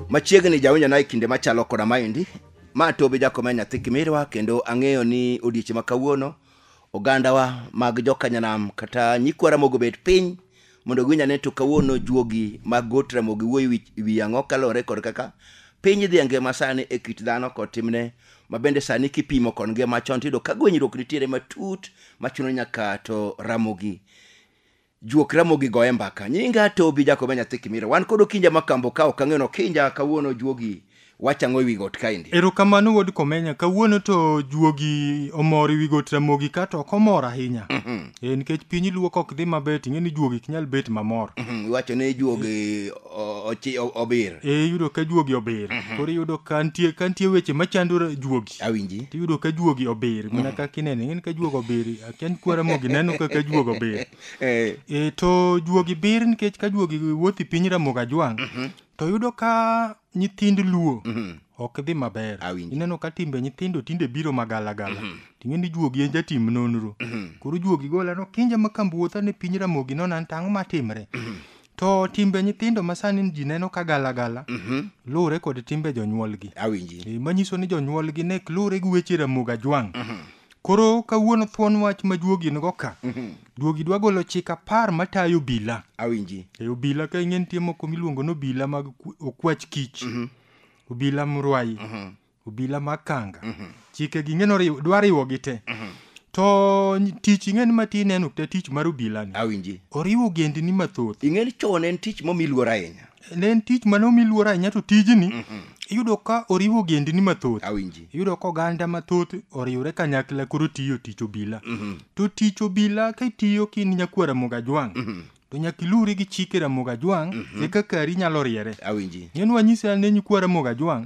machiegni jawinjo na e kinde machalo koda maendi ma tobi jakome nyathi kimirwa kendo ang'eyo ni odiechieng' ma kawuono ogandawa mag jokanyanam kata nyikwara mogobet piny mondo giwinj ane to kawuono juogi mag got ramogi wuoyo wi- wi ang'o kaluwore kod kaka piny idhi e ngima sani e kit dhano kod timne ma bende sani kipimo kod ngima chon tiyudo ka gwenyruok nitiere matut machuno nyaka to ramogi juok ramogi goye mbaka nyinga tobi jakobe nyathi kimiro wan kod okinja makambo ka ok ang'eno kinja kawuono juogi Wach ang'o e wi got kaendi? Erokamano wuod Komenya, kawuono to juogi omor e wi got Ramogi ka to ok omor ahinya. Eh, nikech piny luo kok dhi maber ting'e ni juogi ok nyal bet mamor. Mhm, Iwacho ni juogi o- ochi- o- obir. Eh, iyudo ka juogi obir. Koro iyudo ka nitie ka nitie weche machando ra- juogi. Awinji. To iyudo ka juogi obir, mana kaka ineno, ing'eni ka juogi obir, akia ni kwa Ramogi neno kaka juogi obir. Eh, Eh, to juogi bir nikech ka juogi wuothi piny Ramogi ajwang', to yudo ka nyithind luo ok dhi maber Awinjo. ineno ka timbe nyithindo tinde biro magalagala ting'e ni juogi en jatim nonro koro juogi gola no kinja ma kambuotha ne piny ramogi nono an tang'o matimre to timbe nyithindo ma sani ji neno ka galagala luwore kod timbe jonyuolgi awinji Eh, manyiso ni jonyuolgi ne luwore gi weche ramogi ajwang' Koro kawuono thuon wach ma juogi nigo ka. Juogi dwa golo chik apar matayo obila. Awinji. E obila ka ing'e nitie moko miluongo ni obila mag ku- okwach kich. Obila mrwayi. Obila mag kanga. Chike gi ing'e noriwo dwa riwo gi te. To ny- tich ing'e ni ma ti ineno te tich mar obila ni. Awinji. Oriwo ogendni mathoth. Ing'e ni chon en tich momi luor ahinya. ne en tich mane omi luor ahinya to tijni iyudo ka oriwo ogendni mathoth awinji iyudo ka oganda mathoth oriwre kanyakla koro tiyo tich obila to tich obila ka itiyo ka in nyakwar Ramogi Ajwang' to nyaka ilure gi chike Ramogi Ajwang' eka kari nyalo riere awinji neno wanyise ane nyikwar Ramogi Ajwang'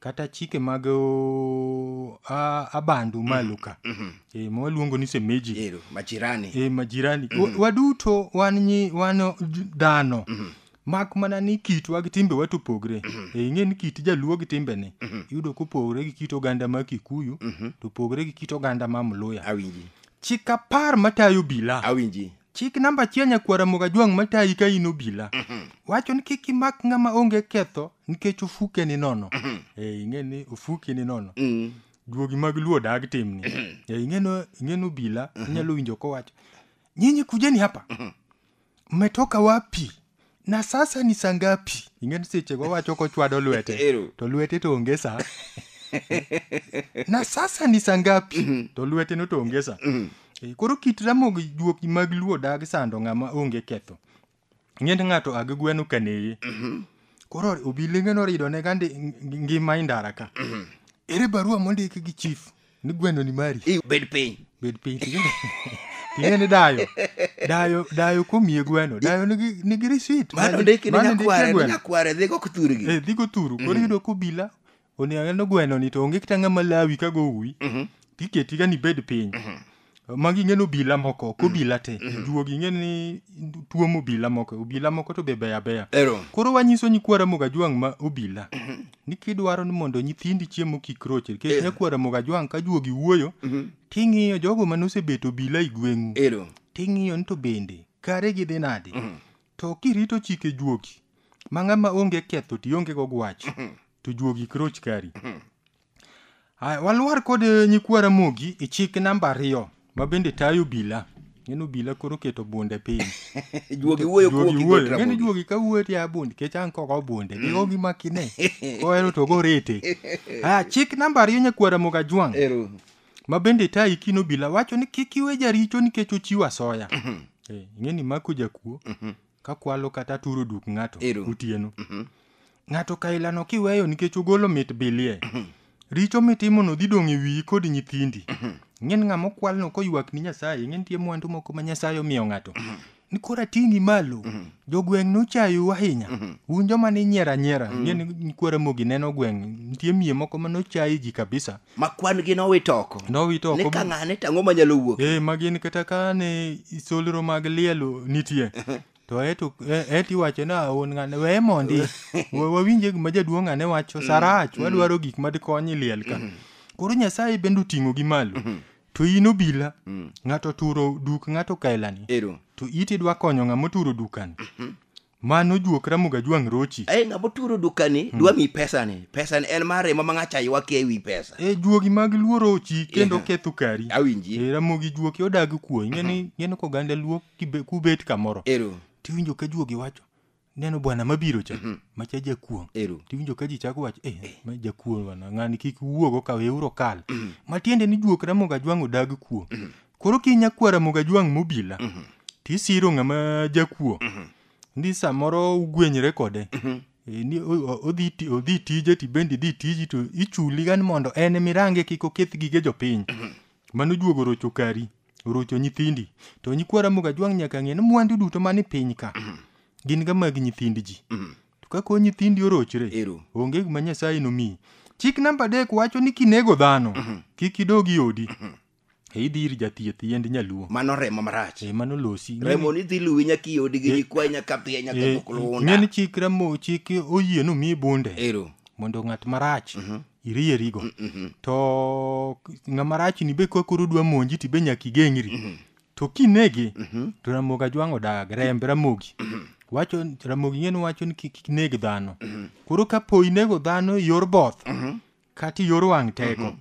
kata chike mag o, a, abandu malo ka e, ma waluongo ni semeji ero majirani e, majirani Wa- waduto wan nyi wan j- dhano mak mana ni kitwa gi timbewa to opogre e, ing'e ni kit jaluo gi timbene iyudo kopogre gi kit oganda ma kikuyu to opogre gi kit oganda ma mluya awinji chik apar matayo bila awinji chik namba achiel nyakwar Ramogi Ajwang' matayi ka in obila wacho ni kik imak ng'ama onge ketho nikech ofuke ni nono Eh, ing'e ni ofuki ni nono Mm. duogi mag luo dag timni Eh, ing'eno ing'eno obila inyalo winjo kowacho nyinyi kujeni hapa mmetoka wapi na sasa ni saa ngapi ing'eni sechego wacho kochwado lwete Ero. to lwete to onge saa na sasa ni saa ngapi to lwete no to onge saa Eh, koro kit ramogi juoki mag luo dag sando ng'ama onge ketho ing'eni ng'ato ag gweno kaneye koro obilenge norido ne gandi ngima indara ka ere barua mondik gi chief ni gweno ni mari i bed piny bed piny ting'e- ting'e ni dayo dayo dayo komiye gweno dayo nigi nigi risit mano ndiki ni nyakware ni nyakware dhigo kuthurgi eh dhigo turu koro yudo kobila oneno gweno ni to onge kata ng'ama lawi ka go uwi tiketi ga ni bed piny magi ing'e ni obila moko ok obila te juogi ing'e ni tuomo obila moko obila moko to be beyo abeya Ero. koro wanyiso nyikwa ramogi ajwang' ma obila ni kidwaro ni mondo nyithindi chiemo kik roche nikech nyakwa ramogi ajwang' ka juogi wuoyo ting'iyo jogo mane osebet obila i gweng'u Ero. ting'iyo ni to bende kare gidhi nadi to kirito chike juogi ma ng'ama onge ketho to ionge go gwach to juogi kik roch kari Aya, walwar kod eh, nyikwa Ramogi e chik namba ariyo ma bende tayo obila. Ng'en obila koro keto bunde piny. Juogi wuoyo kuo Juogi gi wuoyo. Dr. Ng'en Ramogi. juogi ka wuoyo tiya bunde kech an koko bunde. Gigo gi makine. Kohero to gorete. Aya, chik namba ariyo nyakwa Ramogi Ajwang' Ero. ma bende tayo ikin obila wacho ni kik iwe jaricho nikech ochiwo asoya. Eh, Ing'e ni mako jakuo kakwalo kata turo duk ng'ato Ero. otieno ng'ato kailano kiweyo nikech ogolo mit bilie richo mitimono dhi dong' e wiyi kod nyithindi ing'en ng'ama okwalno koywak ni nyasaye ing'e nitie mwandu moko ma nyasaye omiyo ng'ato ni koro ating'i malo jogweng' nochayou ahinya un joma ninyiero anyiera ing'e ni nyikwara mogi neno gweng' nitie miye moko ma nochayi ji kabisa ma kwan gi nowit oko nowit oko ni ka ng'ane to ang'o manyalo wuok eh ma gin kata ka ne solro mag lielo nitie to eto e- eto iwacho ni aon ng'ane weye mondi Wa- wawinje gima jaduong' ng'ane wacho sarach wadwaro gik madikonyi liel ka koro nyasaye bende oting'o gi malo to in obila ng'ato turo duk ng'ato kaelani ero to iti dwa konyo ng'ama oturo dukani Mano juok Ramogi Ajwang' Rochi. Ai ng'ama oturo dukani dwa mi pesani. Pesani en mar remo ma ng'acha ywa ke ewi pesa. E juogi mag Luo Rochi kendo Yeah. ketho kari. Awinji. E Ramogi juoki odag kuo. Ingeni ingeni ko ganda Luo kibe- kubet kamoro. Ero. Tiwinjo ka juogi wacho neno bwana mabiro cha macha jakuong'. Ero. Tiwinjo ka ji chako wacho eh ma jakuong' bwana ng'ani kik wuogo ka weuru kal. Matiende ni juok Ramogi Ajwang' odag kuo. koro ki nyakwar Ramogi Ajwang' mobila to isiro ng'ama jakuo ni samoro ugwenyre kode Eh, ni o- o- odhi ti- odhi tije to ibende idhi tiji to ichuli gan mondo en ema irange kik oketh gige jopiny mano juogo rocho kari orocho nyithindi to nyikwa Ramogi Ajwang' nyaka ng'e ni mwandu duto mani piny ka gin ga mag nyithind ji to ka koro nyithindi orochre Ero. onge gima nyasaye nomiyi chik namba adek wacho ni kinego dhano kik idog i odi e idhi ir jathieth yiend nyaluo mano remo marach e mano losi Ng'eni- remo ni dhi luwi nyaka iodi gi Eh. nyikwayi nyaka dhiye nyaka eh, dhok luunda ng'eni chik remo chik oyie no mi bunde ero mondo ng'at marach irierigo to ng'ama rach ni be ka koro dwa monji ti be nyaka igeng'ri to kinege to ramogi ajwang' odag remb ramogi wacho ramogi ng'en wacho ni kik kik neg dhano koro ka po inego dhano e yor both kata iyor wang' teko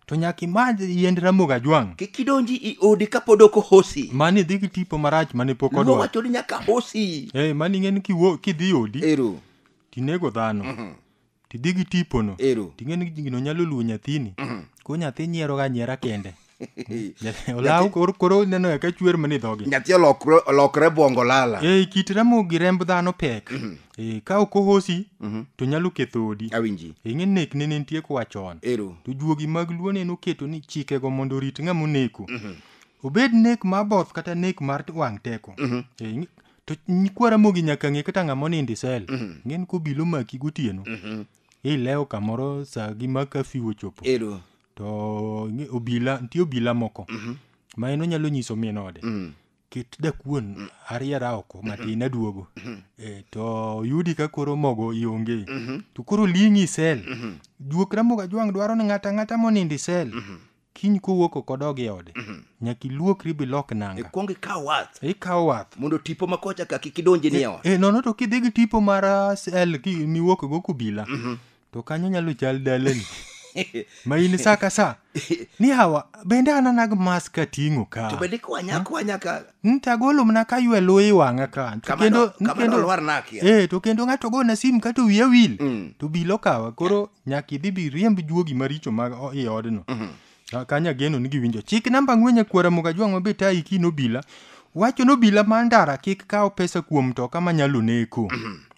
to nyaka imadh yiend ramogi ajwang' kik idonji i odi kapod ok ohosi mani idhi gi tipo marach mane pok luo odwa wacho ni nyaka hosi Eh, mani ing'e ni kiwo- kidhi odi ero tinego dhano tidhi gi tipono ero ting'e ni gino nyalo luwo nyathini ko nyathi nyieroga nyiera kende ola koro koro neno ya ka chwer mani dhogi nyathi olokre olokre bongo lala e kit remo gi remb dhano pek e ka ok ohosi to nyalo ketho odi awinji e ng'e nek ne nitie kwa chon ero to juogi mag luo ne noketo ni chikego mondo orit ng'ama oneko obed nek ma both kata nek mar wang' teko e ng'e- to nyikwa ramogi nyaka ng'e kata ng'ama onindo isel ng'en kobilo maki gotieno ilewo kamoro sa gi ma kafiu ochopo ero to ing'e- obila nitie obila moko ma en onyalo nyiso min ode kit dakuon ariera oko matin aduogo Eh, to yudi ka koro mogo ionge to koro ling'i sel juok ramoga jwang' dwaro ni ng'ata ng'ata monindo i sel kiny kowuok oko dog e ode nyaka iluokri bilok nanga ikwong ikaw wath ikawo wath mondo tipo ma kocha ka kik idonji ni e ot e nono to kidhi gi tipo mar ah, sel ki- miwuok go kobila to kanyo nyalo chal dalani ma in sa ka sa ni hawa bende ananag mas ka ting'o ka to bende kwanya kwanya ka Mm, to agolo mana ka ywe luyi wang'a ka To kama kendo- no- kama kendo- nolwar nakia. Eh, to kendo ng'ato gona sim ka to wiya wil Mm. to bilo kawa koro nyaka idhi bi riemb juogi maricho mag o- i odno Ah, Kanya geno ni giwinjo. Chik namba ng'wenye kwara muga jwang' mabe tayi ki nobila. Wacho nobila ma ndara kik kaw pesa kuom mtoka ma nyalo neko.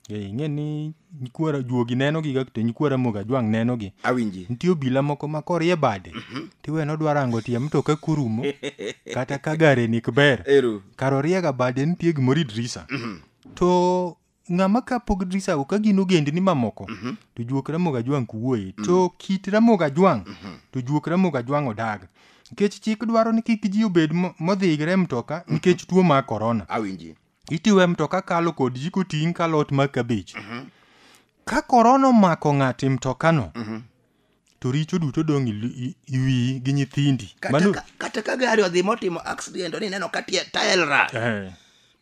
Eh, ing'e ni nyikwara juogi neno gi to nyikwara muga jwang' neno gi. awinji Nitie obila moko ma korie bade. Tiwe nodwaro ango tie mtoka kurumo. Kata ka gare ni kber. eru kar oriega bade nitie gimoro idrisa to ng'ama ka pog drisago ka gin ogendni mamoko to juok ramoga jwang' kuwuoye to kit ramoga jwang' to juok ramoga jwang' odag nikech chik dwaro ni kik ji obed mo- modhigre e mtoka nikech tuo mar korona awinji itiyo e mtoka kalo kod ji koting' ka lot mar kabich ka korona omako ng'ato e mtokano to richo duto dong' iwiyi gi nyithindi kata ka gari odhi motimo accident ni neno ka taelra eh.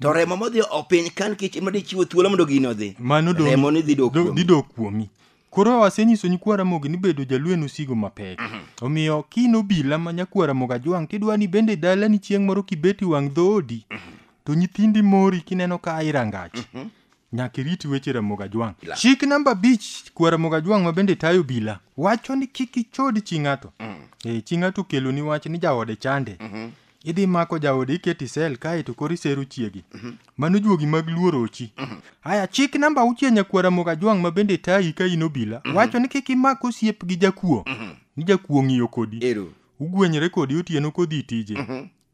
to remo modhi opiny kan kech ema dichiwo thuolo mondo gino odhi mano remo ni dhidok kuomi koro asenyiso nyikwa ramogi ni bedo jaluo en osigo mapek mhm. omiyo kin obila ma nyakwa ramogi ajwang' tidwa ni bende dalani chieng' moro kibeti wang' dhoodi mhm. to nyithindi mori kineno ka irangach mhm. Nyaka irit weche Ramogi Ajwang'. Chik namba abich kwa Ramogi Ajwang' ma bende tayo obila wacho ni kik ichod chi ng'ato. Eh, chi ng'ato okeloni wach ni jaode chande. Idhi mako jaode iketi sel kae to koro isero chiegi. Mano juogi mag luoro ochi. Aya chik namba auchiel nyakwa Ramogi Ajwang' ma bende tayi ka in obila wacho ni kik imak osiep gi jakuo. Ni jakuo ng'iyo kodi. Ero. Ugwenyre kodi otieno kodhi tije.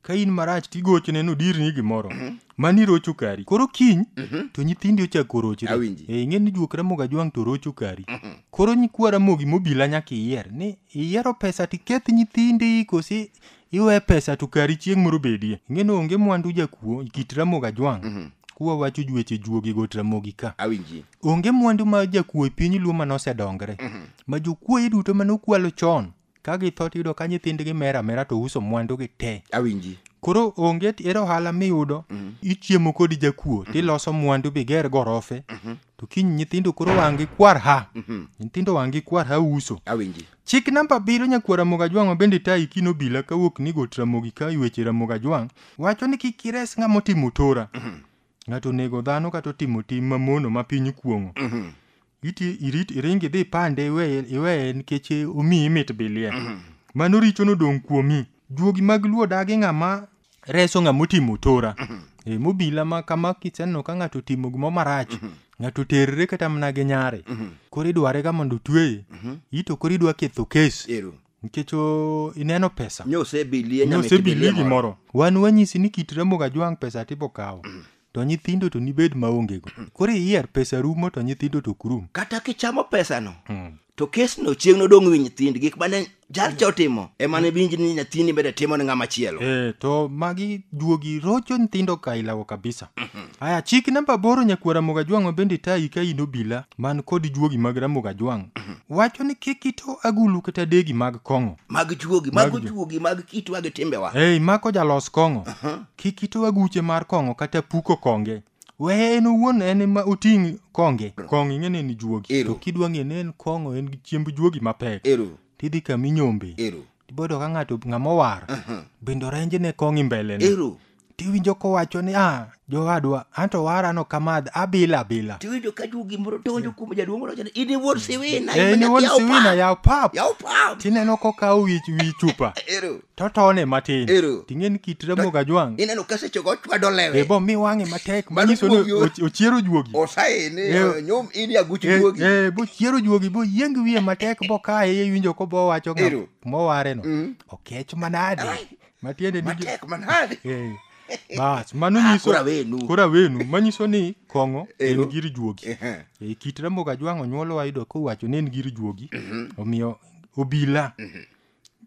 ka in marach tigochone nodirni gimoro mani irocho kari koro kiny to nyithindi ochako rochre Awinji. e ing'e ni juok ramogi ajwang' to rocho kari koro nyikwa ramogi mobila nyaka iyier ni iyiero pesa tiketh nyithindi kosi iwe pesa to kari chieng' moro bedie ing'e ni onge mwandu jakuo kit ramogi ajwang' kuwa wacho jueche juogi got ramogi ka awinji onge mwandu ma jakuo e piny luo mane osedongre ma jokuoye duto mane okwalo chon ka githo tiyudo ka nyithindgi mer amera to uso mwandugi te awinji koro onge t- ere ohala miyudo ichiemo kod jakuo tiloso mwandu biger gorofe to kiny nyithindo koro wang'gi kwar ha nyithindo wang'gi kwar ha uso awinji chik namba abiriyo nyakwar ramogi ajwang' ma bende tayi kino bila kawuok ni got ramogi ka weche ramogi ajwang' wacho ni kik ires ng'ama otimo tora ng'ato onego dhano kata otimo tim mamono ma piny kuong'o iti irit iringi dhi pande iweye iweye nikech omiyi mit bilie mano richo nodong' kuomi juogi mag luo dagi ng'ama reso ng'ama otimo tora e, mobila ma kama kiseneno ka ng'ato otimo gimo marach ng'ato terre kata mana gi nyare koro idwarega mondo otweye ito koro idwa ketho kes ero nikech o- ineno pesa nyosebilie nosebilie gimoro wan wanyisi ni kit ramoga jwang' pesa tibo kawo to nyithindo to nibed maongego koro iyier pesa rumo to nyithindo to ok rum kata kichamo pesano Mm. to kesno chieng' nodong' wi nyithind gik mane jalcha otimo ema ne winji ni nyathini bende timo ne ng'ama chielo Eh, to magi juogi rocho nyithindo ka ilawo kabisa Aya, chik namba aboro nyakwar Ramogi Ajwang' ma bende tayi ka in obila man kod juogi mag Ramogi Ajwang' wacho ni kik ito agulu kata degi mag kong'o. mag juogi Mag mago ju- juogi mag kitwa gi timbewa Ei, mako jalos kong'o. Kik ito aguche mar kong'o kata puko konge. Weye en owuon en ema oting' konge. Kong'o ing'e ni en juogi. Ero. To kidwa ng'e ni en kong'o en chiemb juogi mapek. ero Tidhi kama inyombe. ero Tibodo ka ng'ato ng'ama owar. Bende orenje ne kong'o imbelene. ero tiwinjo kowacho ni ah jowadwa anto wara no kamadh abila abila tiwinjo ka jugi moro donjo kuom jaduong' moro ni in iwuon siwina Eh, in iwuon siwina yaw pap yaw pap tineno kokawo wi wi chupa ero totone matin Ero. ting'e ni kit ramogi ajwang' ineno ka sechego ochwado e lewe bo mi wang'e matek Mano manyiso ni juogi o- och- ochiero juogi osaene Ero. nyom in yaguchi Eh, juogi eh, bochiero juogi boyieng wiye matek bokaye iwinjo kobowacho Ero. mowareno Mm. okech manade Ai. matiende ni matek manade Eh, bas mano Ah, nyiso kora wenu. kora wenu manyiso ni kong'o en Ero. gir juogi Ehe. e kit ramogi ajwang' onyuolo wayudo kowacho ni en gir juogi omiyo obila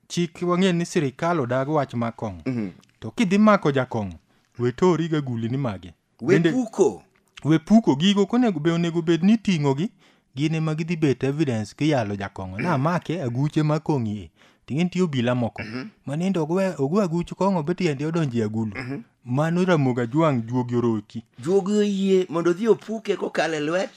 chik wang'e ni sirikal odag wach ma kong'o to kidhi mako jakong'o we toriga gulini mage Bende- wepuko we puko gigo konego be onego bed ni ting'o gi gin ema gidhi bet evidence kiyalo jakong'o na make aguche ma kong'i e ting'e nitie obila moko ma nindo ogwe ogwe aguch kong'o be tiende odonje agulu mano ramoga jwang' juogi oroki juogi oyie mondo odhi opuke kokalo e lwet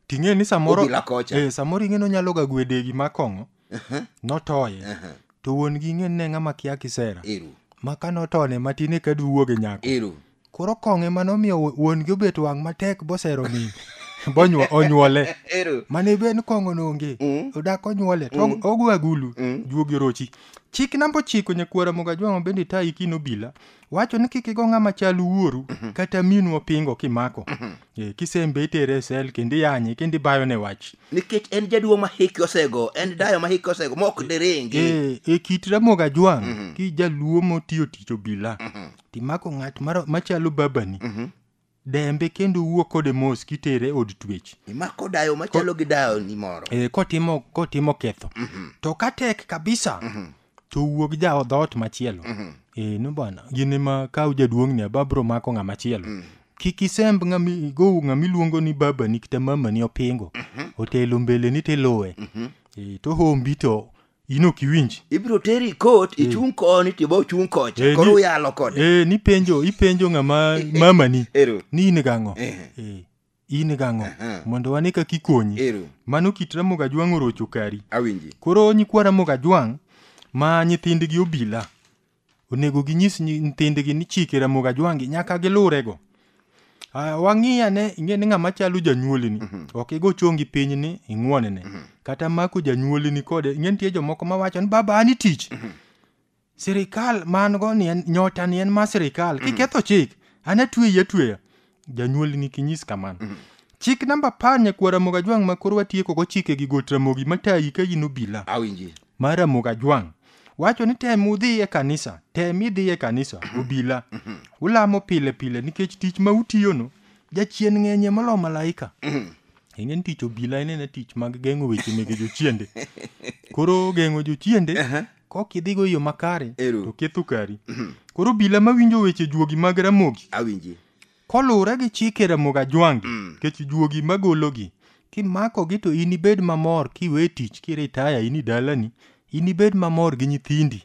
ting'e ni samoro Obila kocha. eh, samoro ing'e ni onyalo ga gwedegi ma kong'o Aha, notoye aha. to wuon gi ng'e ne ng'ama kia kisera Ero, ma ka notone matin eka duwuoge nyako ero. koro kong'e ma nomiyo wu- wuon gi obet wang' matek bosero min bonyuo onyuole Ero. mane ben kong'o nonge Mm. odak onyuole to og- ogo agulu Mm. juogi orochi chik namba ochiko nyakwara mogajwang'o bende tayi kino bila wacho ni kik igo ng'ama chal wuoru kata minu opingo kimako Eh, kisembe itere e sel kendo iyanye kendo ibayo ne wach nikech en jaduong' ma hike osego en dayo ma hike osego ma ok diringi e, e kit ramoga jwang' ki jaluo motiyo tich obila timako ng'at maro- machalo babani dembe kendo wuo kode mos kitere od twech imako dayo machalo gi dayo ni moro e, kotimo kotimo ketho mm -hmm. to ka tek kabisa mm -hmm. to wuog ja dhoot machielo mm -hmm. e, eh, no bana gin ma kaw jaduong' ni ababro mako ng'a machielo mm -hmm. kik isemb ng'ami gowu ng'ami luongo ni baba ni kata mama ni opingo mm -hmm. otelo mbele ni tiluwe mm -hmm. e, to hombi to in ok iwinji ibiro teri kot ichung' koni to ibo chung' kocha Eh, koro ni- uyalo kode e nipenjo ipenjo ng'ama mamani Ero. ni in gang'o Eh. Eh, in gang'o Aha. mondo wane kaka ikonyi Ero. mano kit ramogi ajwang' orocho kari awinji koro nyikwa ramogi ajwang' ma nyithindgi obila Onego ginyis nyi- nyithindgi ni chike Ramogi Ajwangi nyaka gilurego. Ah, Wang'i ane ing'e ni ng'ama chalo janyuolini ok igo chongi piny ni ing'wonene kata mako janyuolini kode ing'e nitie jomoko mawacho ni baba an itich sirikal man go ni en nyota ni en ma sirikal kiketho chik an atweyi atweya janyuoli ni kinyis kamano chik namba apar nyakwar ramogi ajwang' ma koro watieko go chike gi got ramogi matayi ka in obila awinji mar ramogi ajwang' wacho ni tem udhi e kanisa tem idhi e kanisa obila ulamo pile pile nikech tich ma utiyono jachien ng'enye molo malaika ing'e ni tich obila en ena tich mag geng'o weche mege jochiende koro geng'o jochiende kok idhigo yo makare Ero. to ketho kari koro obila mawinjo weche juogi mag ramogi awinji koluwore gi chike ramogi ajwangi Mm. kech juogi magologi kimakogi to inibed mamor kiwe tich kiritaya in i dalani inibed mamor gi nyithindi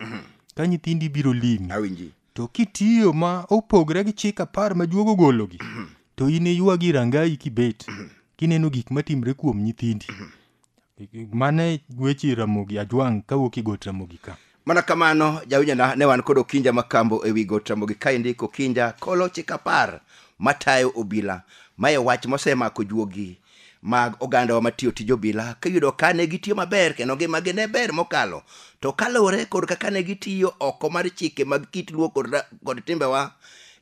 ka nyithindi biro limi awinji to kitiyo ma opogre gi chik apar ma juogo gologi to in iywagi rangayi kibet kineno gik matimre kuom nyithindi mane weche ramogi ajwang' kawuok i got ramogi ka mana kamano jawinjona ne wan kod okinja makambo e wi got ramogi kaendi kokinja kolo chik apar matayo obila mae wach mosemako juogi mag ogandawa matiyo tij obila kiyudo ka ne gitiyo maber kendo ngimagi ne ber mokalo to kaluwore kod kaka ne gitiyo oko mar chike mag kit luo kod, ra- kod timbewa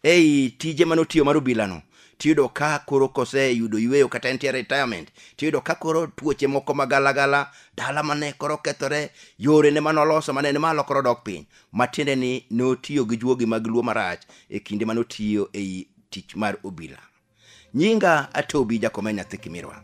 ei tije mane otiyo mar obilano tiyudo ka koro koseyudo yueyo kata entie retirement tiyudo ka koro tuoche moko magalagala dala mane koro kethore yore ne mane oloso mane ni malo koro dok piny matiende ni notiyo gi juogi mag luo marach e kinde mane otiyo ei tich mar obila nyinga atobi jakomea nyathi kimirwa